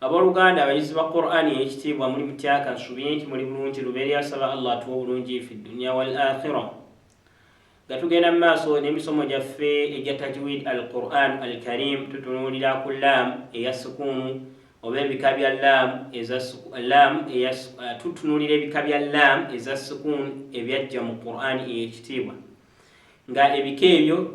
Aboluganda abayizi ba Qur'an eyekitiibwa muli mutya kansubiye nti muli bulungi lubeerera nsaba Allah atuwe obulungi fi dunya wal akhirah nga tugenda mu maaso n'emisomo gyaffe egya tajwid al Qur'an al karim tutunuulira ku lam eya sukuunu oba ebika bya lam eza lam eya uh, tutunuulira ebika bya lam eza sukuun ebyajja mu Qur'an eyekitiibwa nga ebika ebyo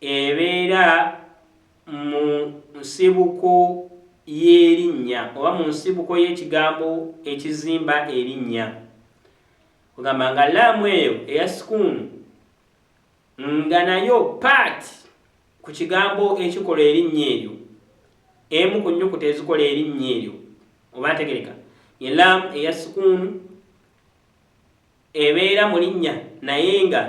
Ebeera mu nsibuko y'erinnya oba mu nsibuko y'ekigambo ekizimba erinnya. Kwegamba nga laamu eyo eya sukuunu nga nayo part ku kigambo ekikola erinnya eryo, emu ku nnyukuta ezikola erinnya eryo. Oba ntegereka? Ye laamu eya sukuunu. ebeera mu linnya naye nga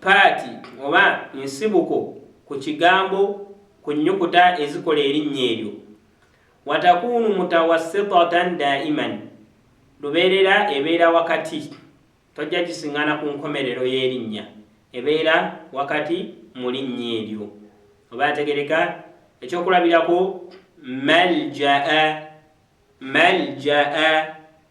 paati oba nsibuko ku kigambo ku nnyukuta ezikola erinnya eryo. Watakuunu mutawassitatan daiman, lubeerera ebeera wakati, tojja gisingana ku nkomerero y'erinnya, ebeera wakati mu linnya eryo. Oba ategereka? Ekyokulabirako, Maljaa, Maljaa,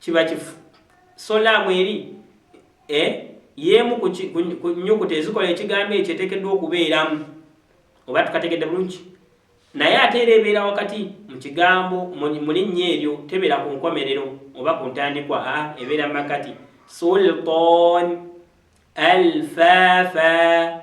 Kiba kifu. Solar mweri e, yemu ku nyukuta ezikola ekigambo ekyo etekeddwa okubeeramu. Oba tukategedde bulungi? Naye ate era ebeera wakati mu kigambo mu linnya eryo, tebeera ku nkomerero oba ku ntandikwa, a ebeera mu makati. Sultan, alfafa.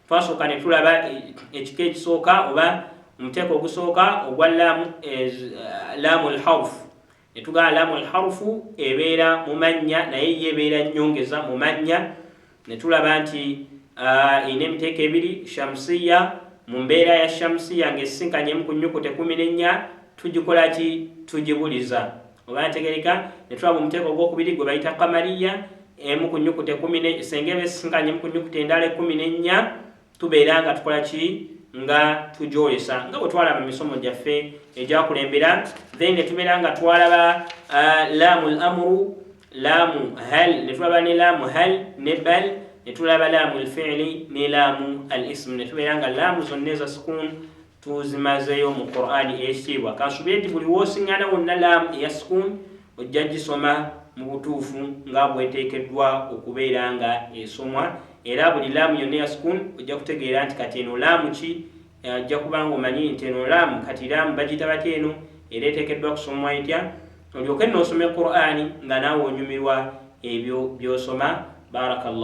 twasooka ne tulaba e, ekika ekisooka oba omuteeko ogusooka ogwa laamu eh, laamu lharufu ne tugamba laamu lharufu ebeera mu mannya naye ye ebeera nnyongeza mu mannya ne tulaba nti ah, erina emiteeko ebiri shamusiya mu mbeera ya shamusiya ng'esisinkanyemu ku nnyukuta ekumi n'ennya tugikola ki tugibuliza oba yategereka ne tulaba omuteeko ogwokubiri gwe bayita kamaliya emu ku nyukuta ekumi senga eba esisinkanye emu ku nyukuta endala ekumi n'ennya tubeera nga tukola ki nga tugyolesa nga bwe twalaba misomo gyaffe egyakulembera then ne tubeera nga twalaba uh, laamu l amuru laamu hal ne tulaba ne laamu hal ne bal ne tulaba laamu lfiili ne laamu al ismu ne tubeera nga laamu zonna eza sukuunu tuzimazeyo mu qurani eyekitiibwa kansubire nti buli wosiŋana wonna laamu eya sukun ojja gisoma mu butuufu nga bweteekeddwa okubeera nga esomwa era buli laamu yonna eya sukun ojja kutegeera nti kati eno laamu ki ajja kuba nga omanyi nti eno laamu kati laamu bagiyita batya eno era eteekeddwa kusomwa etya olyoke noosoma qurani nga naawe onyumirwa ebyo byosoma barakallah